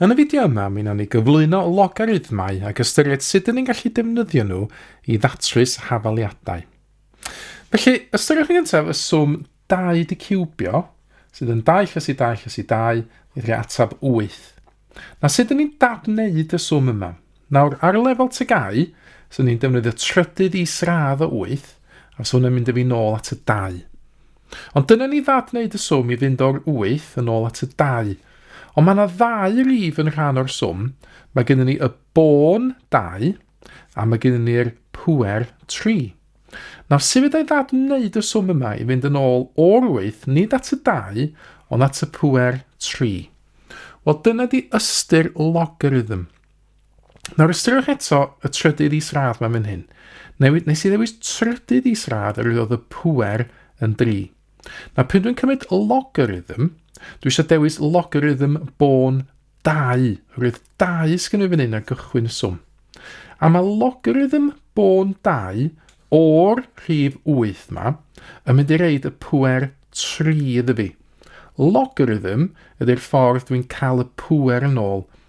Yn y fideo yma, mi wnawn ni gyflwyno logarithmau ac ystyried sut dyn ni'n gallu defnyddio nhw i ddatrys hafaliadau. Felly, ystyriwch yn gyntaf y swm 2 di ciwbio, sydd yn 2 llys i 2 llys i 2, i rhoi atab 8. Na sut dyn ni'n dadwneud y swm yma? Nawr, ar lefel tygau, swn i'n defnyddio trydydd i sradd o 8, a swn i'n mynd â fi nôl at y 2. Ond dyna ni ddad wneud y swm i fynd o'r 8 yn ôl at y 2. Ond mae yna ddau rif yn rhan o'r swm, mae gennym ni y bôn 2 a mae gennym ni'r pwer 3. Nawr, sut fyddai ddad wneud y swm yma i fynd yn ôl o'r 8, nid at y 2, ond at y pwer 3? Wel, dyna di ystyr logarithm. Nawr ystyriwch eto y trydydd isradd mae'n mynd hyn. Newid, nes i ddewis trydydd isradd yr oedd y pwer yn 3. Na pryd dwi'n cymryd logarithm, dwi eisiau dewis logarithm bôn 2. Roedd 2 sgyn i fan hyn ar gychwyn y swm. A mae logarithm bôn 2 o'r rhif 8 ma yn mynd i reid y pwer 3 iddo fi. Logarithm ydy'r ffordd dwi'n cael y pwer yn ôl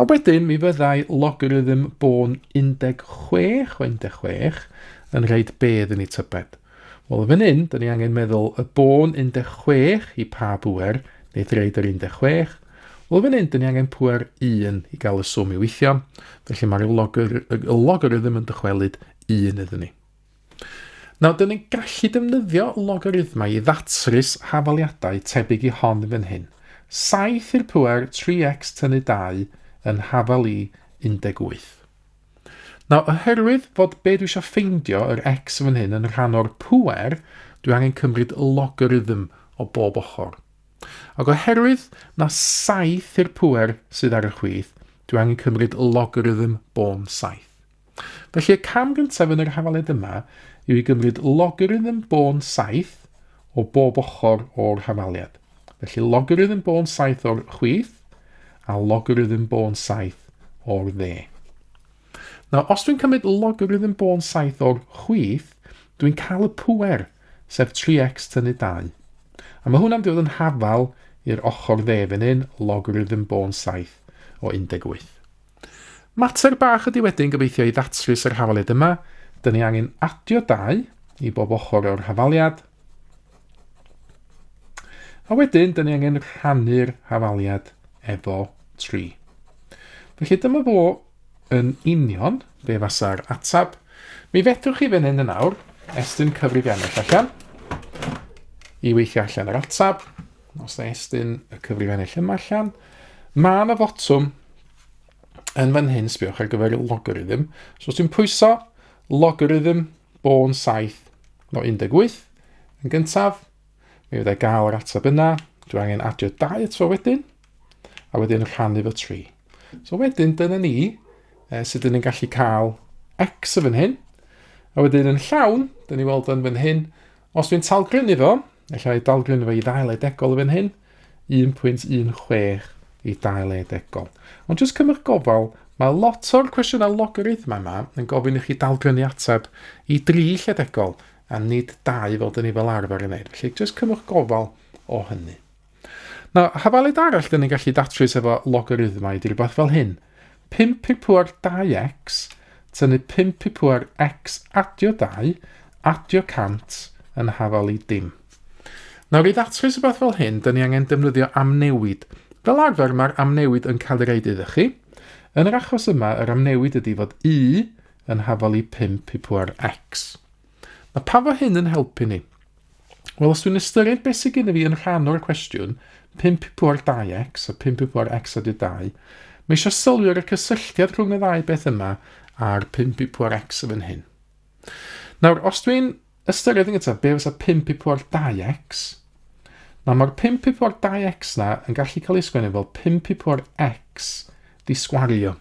A wedyn mi fyddai logarithm bôn 16 o 16 yn rhaid bedd yn ei tybed. Wel, yn fan hyn, dyn ni angen meddwl y bôn 16 i pa bwer wneith reid yr 16. Wel, fan hyn, dyn ni angen pwer 1 i gael y swm i weithio. Felly mae'r logarithm yn dychwelyd 1 iddyn ni. Nawr, dyn ni'n gallu defnyddio logarithmau i ddatrys hafaliadau tebyg i hon fan hyn. 7 i'r pwer 3x tynnu 2 yn hafal i 18. Nawr, oherwydd fod be dwi eisiau ffeindio, yr x fan hyn, yn rhan o'r pwer, dwi angen cymryd logarithm o bob ochr. Ac oherwydd na 7 i'r pwer sydd ar y chwith, dwi angen cymryd logarithm bôn 7. Felly y cam gyntaf yn yr hafaliad yma yw i gymryd logarithm bôn 7 o bob ochr o'r hafaliad. Felly logarithm bôn 7 o'r chwith a logarithm bôn 7 o'r dde. Nawr, os dwi'n cymryd logarithm bôn 7 o'r chwith, dwi'n cael y pwer, sef 3x tynnu 2. A mae hwnna'n dod yn hafal i'r ochr dde fan hyn, logarithm bôn 7 o 18. Mater bach ydy wedyn gobeithio i ddatrys yr hafaliad yma. Dyn ni angen adio dau i bob ochr o'r hafaliad. A wedyn, dyn ni angen rhannu'r hafaliad efo 3. Felly dyma fo yn union be fasa'r atab. Mi fedrwch chi fan hyn yn awr estyn cyfrifiannell allan i weithio allan yr atab. Os na estyn y cyfrif ennill yma allan. Mae yna fotwm yn fan hyn, sbiwch ar gyfer y logarithm. So os ti'n pwyso logarithm bôn 7 o 18 yn gyntaf, mi fyddai gael yr ateb yna. Dwi angen adio 2 eto wedyn, a wedyn rhannu fo 3. So wedyn, dyna ni eh, sut dyn ni'n gallu cael x yn fan hyn. A wedyn yn llawn, dyn ni weld yn fan hyn, Os dwi'n talgrynnu fo, efallai i dalgrynnu fo i ddail edegol fan hyn, 1.16 i dail edegol. Ond jyst cymryd gofal, mae lot o'r cwestiynau logarithma yma yn gofyn i chi dalgrynnu ateb i dri lledegol a nid dau fel dyn ni fel arfer yn neud. Felly jyst cymryd gofal o hynny. Mae hafalid arall dyn ni'n gallu datrys efo logarithmau ydy rhywbeth fel hyn. 5 pi pŵer 2x, tynnu 5 pi pŵer x adio 2, adio 100 yn hafal i dim. Nawr i ddatrys rhywbeth fel hyn, dyn ni angen defnyddio amnewid. Fel arfer mae'r amnewid yn cael ei reid iddo chi. Yn yr achos yma, yr amnewid ydy fod y yn hafal i 5 pi pŵer x. Mae pa fo hyn yn helpu ni? Wel, os dwi'n ystyried beth sydd gyda fi yn rhan o'r cwestiwn, 5 i pŵar 2x a 5 i pŵar x a 2, mae eisiau sylwi ar y cysylltiad rhwng y ddau beth yma a'r 5 i pŵar x yn fan hyn. Nawr, os dwi'n ystyried yn gyntaf be fysa 5 i pŵar 2x, Nawr mae'r 5 pip o'r 2x na yn gallu cael ei sgwennu fel 5 pip o'r x Disgwario.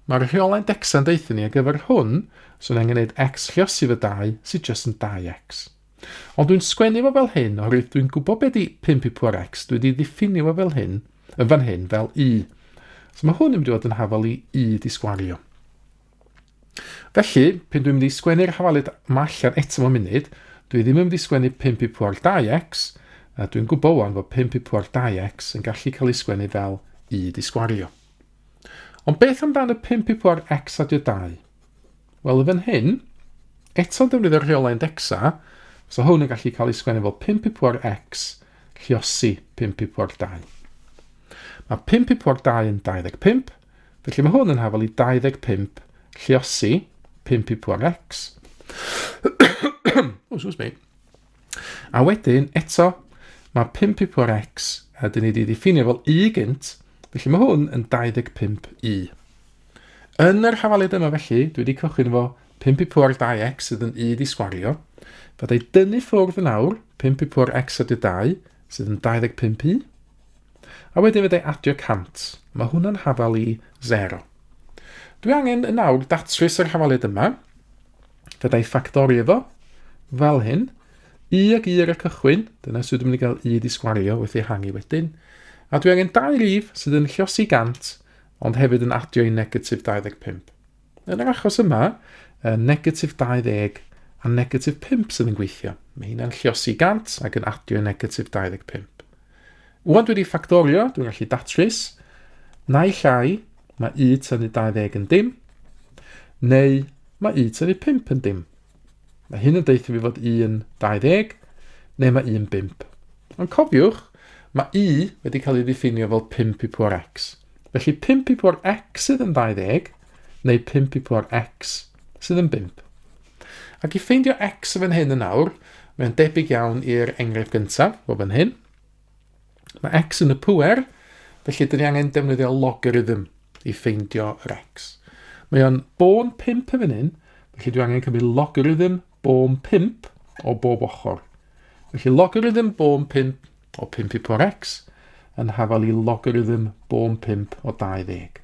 Mae'r rheolau decsa yn deutha ni ar gyfer hwn, swn angen neud X lliosi fy dau, sydd just yn 2X. Ond dwi'n sgwennu fo fel hyn oherwydd dwi'n gwybod be di 5 i pŵar X, dwi di ddiffinio fo fel hyn, yn fan hyn, fel Y. So mae hwn yn mynd i fod yn hafal i Y disgwario. Felly, pyn dwi'n mynd i sgwennu'r hafalid ma allan eto mewn munud, dwi ddim yn mynd i sgwennu 5 i pwar 2x, a dwi'n gwybod wan fod 5 i pwar 2x yn gallu cael ei sgwennu fel i di sgwario. Ond beth amdano 5 i pwar x adio 2? Wel, y fan hyn, eto'n defnyddio'r rheolau indexa, so hwn yn gallu cael ei sgwennu fel 5 i pwar x lliosi 5 i pwar 2. Mae 5 i pwar 2 yn 25, Felly mae hwn yn hafal i 25 lliosi, 5 i pwan X. o, sŵs mi. A wedyn, eto, mae 5 i pwan X, a dyn ni wedi ddiffinio fel Y gynt, felly mae hwn yn 25 Y. Yn yr hafaliad yma felly, dwi wedi cychwyn efo 5 i pwar 2x sydd yn 1 i sgwario. Fydda i dynnu ffwrdd yn awr 5 i pwar x a 2 sydd yn 25 i. A wedyn fedra i adio 100. Mae hwnna'n hafal i 0. Dwi angen yn awr datrys yr hafaliad yma. Fedra i ffactori efo, fel hyn. U ag U ar y cychwyn, dyna sydd dwi'n mynd i gael U di sgwario wrth ei hangi wedyn. A dwi angen dau rif sydd yn llosi 100, ond hefyd yn adio i negatif 25. Yn yr achos yma, y negatif 20 a negatif 5 sydd yn gweithio. Mae hynna'n lliosi 100 ac yn adio negatif 25. Wan dwi wedi ffactorio, dwi'n gallu datrys, nai llai, mae u tynnu 20 yn dim, neu mae u tynnu 5 yn dim. Mae hyn yn deitha fi fod 1.20 neu mae 1.5. Ond cofiwch, mae y wedi cael ei ddiffinio fel 5 i pwar x. Felly 5 i pwar x sydd yn 20 neu 5 i pwar x sydd yn 5. Ac i ffeindio x yn fan hyn yn awr, mae'n debyg iawn i'r enghraifft gyntaf o fan hyn. Mae x yn y pŵer, felly dyn ni angen defnyddio logarithm i ffeindio yr x. Mae o'n bôn 5 yn fan hyn, felly dwi angen cymryd logarithm bôn 5 o bob ochr. Felly logarithm bôn 5 o 5 i pŵer x yn hafal i logarithm bôn 5 o 20.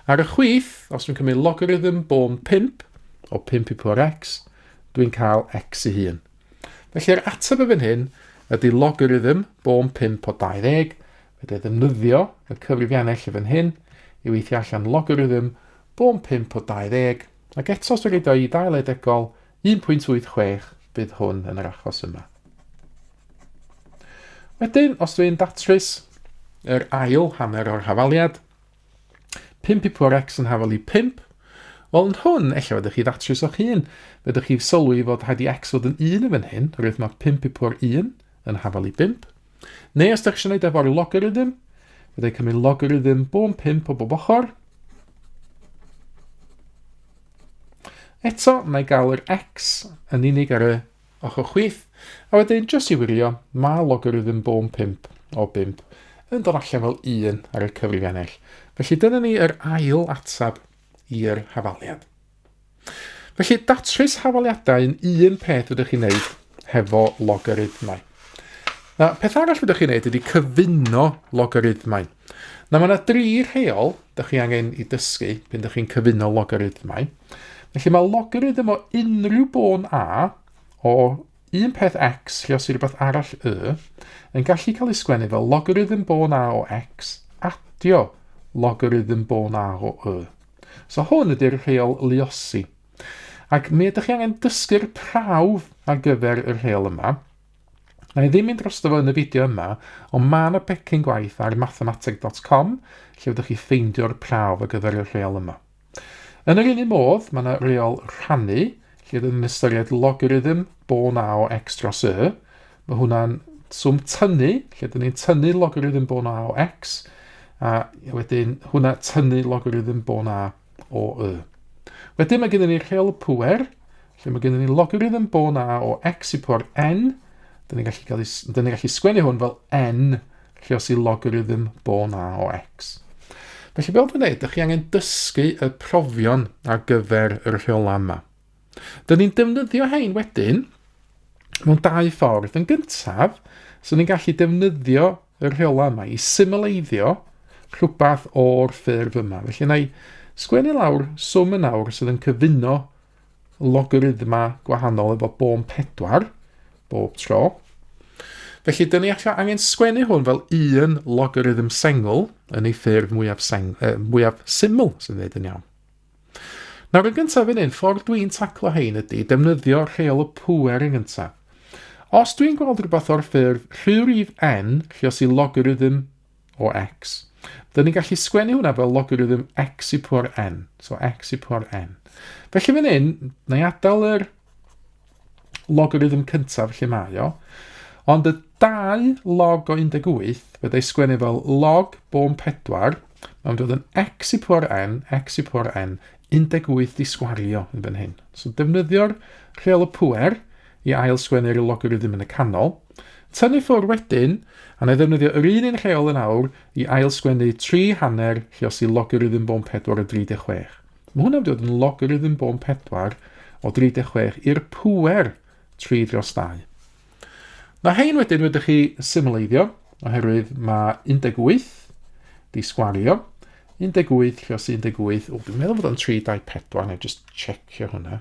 Ar y chwith, os dwi'n cymryd logarithm bôn 5 o 5 i pŵer x, dwi'n cael x i hun. Felly'r ateb y fan hyn ydy logarithm bôn 5 o 20, fedrai ddefnyddio y cyfrifiannau lle fan hyn i weithio allan logarithm bôn 5 o 20, ac eto os dwi'n rhaid o'i dail edegol 1.86 bydd hwn yn yr achos yma. Wedyn, os dwi'n datrys yr ail hanner o'r hafaliad, Pump i pŵer X yn hafal i pump. Wel, yn hwn, ella fydych chi ddatrys o'ch hun. Fydych chi'n sylwi fod rhaid i X fod yn un yn fan hyn, rwydd mae pump i pŵer un yn hafal i bump. Neu os ydych chi'n gwneud efo'r logarithm, byddai cymryd logarithm bo'n pump o bob ochr. Eto, mae gael yr X yn unig ar y Ochr chwith, a wedyn jyst i wirio, mae logarithm bôn 5 o 5 yn dod allan fel 1 ar y cyfrifiannell. Felly dyna ni yr ail atab i'r hafaliad. Felly datrys hafaliadau yn un peth ydych chi'n neud hefo logarithmau. Na, peth arall ydych chi'n neud ydy cyfuno logarithmau. Na, mae yna dri rheol ydych chi angen i dysgu pan ydych chi'n cyfuno logarithmau. Felly mae logarithm o unrhyw bôn a o un peth x lle os i rhywbeth arall y yn gallu cael ei sgwennu fel logarithm bôn a o x adio logarithm bôn a o y. So hwn ydy'r rheol luosi. Ac mi ydych chi angen dysgu'r prawf ar gyfer y rheol yma. Na i ddim mynd dros fo yn y fideo yma, ond mae yna becyn gwaith ar mathemateg.com lle ydych chi ffeindio'r prawf ar gyfer y rheol yma. Yn yr un un modd, mae yna reol rhannu lle rydyn ni'n ystyried logarithm bo na o x dros y. Mae hwnna'n swm tynnu lle rydyn ni'n tynnu logarithm bo na o x a wedyn hwnna tynnu logarithm bo na o y. Wedyn mae gennym ni rheol y pŵer Lle mae gennym ni logarithm bôn a o x i po'r n, dyn ni'n gallu, cael, dyn ni gallu sgwennu hwn fel n lle os i logarithm bôn a o x. Felly, fel dwi'n dweud, ydych chi angen dysgu y profion ar gyfer y rheolau yma. Dyn ni'n defnyddio hein wedyn mewn dau ffordd. Yn gyntaf, so ni'n gallu defnyddio y rheolau yma i symleiddio rhywbeth o'r ffurf yma. Felly, na i sgwennu lawr swm yn awr sydd yn cyfuno logarithma gwahanol efo bôn 4 bob tro. Felly, dyn ni allan angen sgwennu hwn fel un logarithm sengl yn ei ffurf mwyaf, seng, uh, mwyaf syml, sy'n dweud yn iawn. Nawr yn gyntaf yn un, ffordd dwi'n taclo hein ydy defnyddio rheol y pŵer yn gyntaf. Os dwi'n gweld rhywbeth o'r ffurf rhyw rif n, lle os i logarithm o x. Dyn ni'n gallu sgwennu hwnna fel logarithm x i pwr n. So x i pwr n. Felly fan hyn, na i adael yr logarithm cyntaf lle mae o. Ond y 2 log o 18, fe dau sgwennu fel log bôn 4, mae'n dod yn x i pwr n, x i pwr n, 18 di sgwario yn fan hyn. So defnyddio'r rheol y pwer i ail sgwennu'r logarithm yn y canol. Tynnu ffwrdd wedyn, a na i ddefnyddio yr un un rheol yn awr i ail-sgwennu tri hanner rhios i logarithm bôn pedwar o 36. Mae hwnna'n mynd i fod yn logarithm bôn pedwar o 36 i'r pŵer tri dros dau. Mae hein wedyn wedi chi symleiddio, oherwydd mae 18 di sgwario, 18 rhios 18, o dwi'n meddwl fod o'n 3, 2, 4, na i just checio hwnna.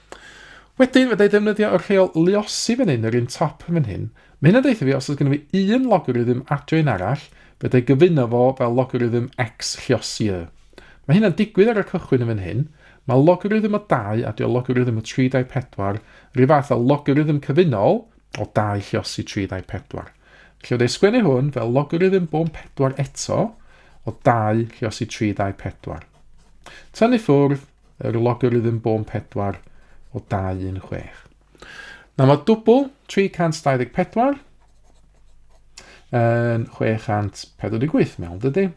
Wedyn, fydda i ddefnyddio y rheol luosi fan hyn, yr un top fan hyn. Mae hyn yn deitha fi, os oes gennym fi un logarithm adio un arall, fe dau gyfuno fo fel logarithm x lliosi y. Mae hyn yn digwydd ar y cychwyn yn fan hyn. Mae logarithm o 2 adio logarithm o 3 dau 4 rhyw fath o logarithm cyfunol o 2 lliosi 3 dau 4. Felly, fydda i sgwennu hwn fel logarithm bôn 4 eto o 2 lliosi 3 dau 4. Tynnu ffwrdd, yr logarithm bôn 4 o 216. Nawr mae dwbl 324 yn 648 mewn, dydy?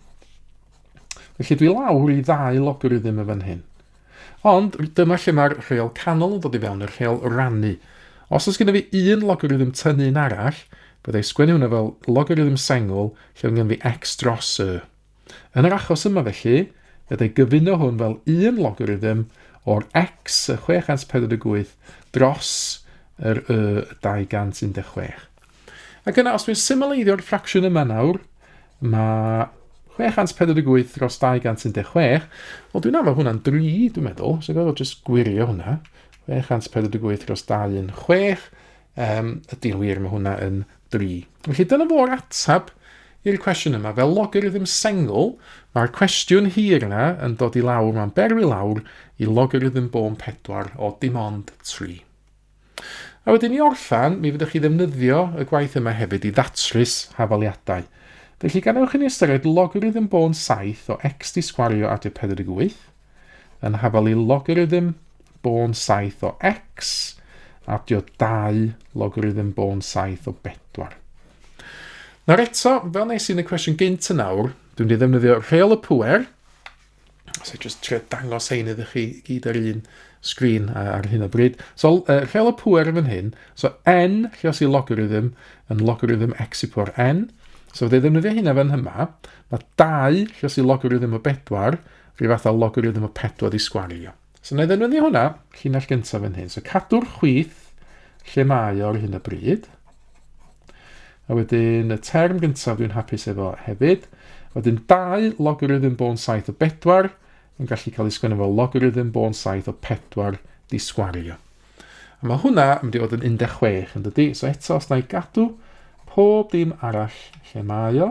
Felly dwi lawr i ddau logarithm y fan hyn. Ond dyma lle mae'r rheol canol yn dod i fewn, y rheol rannu. Os oes gennym fi un logarithm tynnu un arall, byddai sgwennu hwnna fel logarithm sengl lle mae gennym fi x dros y. Yn yr achos yma felly, bydd ei gyfuno hwn fel un logarithym o'r x y 648 dros yr y 216. Ac yna, os dwi'n symleiddio'r ffracsiwn yma nawr, mae 648 dros 216, wel dwi'n anfod hwnna'n 3, dwi'n meddwl, so gorfod jyst gwirio hwnna. 648 dros 216, um, ydy'n wir, mae hwnna yn 3. Felly dyna fo'r ateb i'r cwestiwn yma. Fel logarithm sengl, mae'r cwestiwn hir yna yn dod i lawr, mae'n berwi lawr i logarithm bôn 4 o dim ond 3. A wedyn i orffan, mi fyddwch chi ddefnyddio y gwaith yma hefyd i ddatrys hafaliadau. Felly gan ewch i ni ystyried logarithm bôn 7 o x di sgwario adio 48, yn hafal i logarithm bôn 7 o x, adio 2 logarithm bôn 7 o 4. Nawr eto, fel nes i yn y cwestiwn gynt yn nawr, dwi'n wedi ddefnyddio rheol y pwer, so just trio dangos hein iddo chi gyd ar un sgrin ar hyn o bryd. So, uh, rheol y pwer yn fan hyn, so n, lle os i logarithm, yn logarithm x i pwer n, so fe ddefnyddio hynna fan hyma, mae 2, lle os i logarithm o 4, Rhyw fath o logarithm o 4 di sgwario. So na i ddefnyddio hwnna, llinell gyntaf yn hyn. So cadw'r chwith lle mae o ar hyn o bryd. A wedyn y term gyntaf dwi'n hapus efo hefyd. Wedyn 2 logarithm bôn 7 o 4 yn gallu cael ei sgwennu fel logarithm bôn 7 o 4 di sgwario. A mae hwnna yn mynd i fod yn 16 yn dydy. So eto, os na i gadw pob dim arall lle mae o,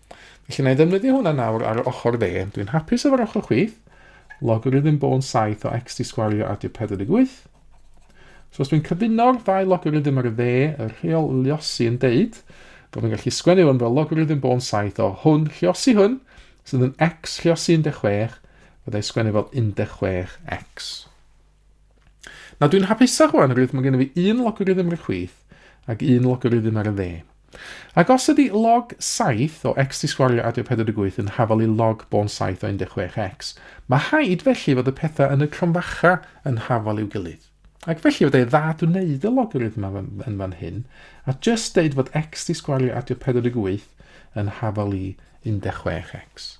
Felly na i ddefnyddio hwnna nawr ar ochr dde. Dwi'n hapus efo'r ochr chwith. Logarithm bôn 7 o x di sgwario a di 48. So os dwi'n cyfuno'r ddau logarithm ar y dde, y rheol liosi yn deud bod yn gallu sgwennu hwn fel logarithm bôn 7 o hwn liosi hwn, sydd yn x liosi 16, byddai sgwennu fel 16x. Na, dwi'n hapusach rwan, rwydd mae gennym fi un logarithm ar y chwith ac un logarithm ar y dde. Ac os ydy log 7 o x di sgwario adio 48 yn hafal i log bôn 7 o 16x, mae haid felly fod y pethau yn y cromfacha yn hafal i'w gilydd. Ac felly fod ei ddad wneud y logarithm yma yn fan hyn, a just deud fod x di sgwario adio 48 yn hafal i 16x.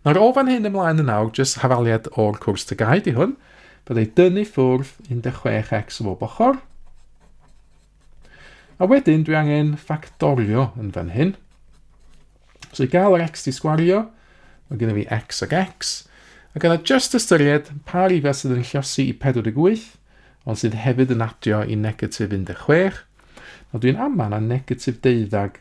Nawr o fan hyn ymlaen yn awr, jyst hafaliad o'r cwrs tygau di hwn, bydd ei dynnu ffwrdd 16x o bob ochr. A wedyn dwi angen ffactorio yn fan hyn. So i gael yr x di sgwario, mae gennym fi x ag x, a gyda just ystyried pa rifau sydd yn llosi i 48, ond sydd hefyd yn adio i negatif 16, a dwi'n aman a negatif deuddag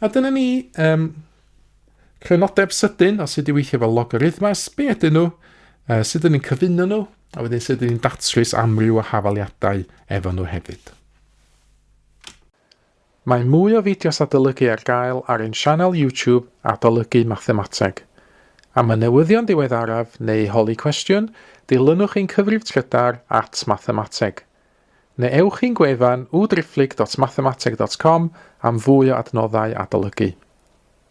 A dyna ni, um, crynodeb sydyn o sut i weithio fel logarithmas, be ydyn nhw, uh, sut ydyn ni'n cyfuno nhw, a wedyn sut ydyn ni'n datrys amryw o hafaliadau efo nhw hefyd. Mae mwy o fideos adolygu ar gael ar ein sianel YouTube Adolygu Mathemateg. Am y newyddion diweddaraf neu holi cwestiwn, dilynwch ein cyfrif trydar at Mathemateg. Neu ewch i'n gwefan www.driphlyg.mathemateg.com am fwy o adnoddau adolygu.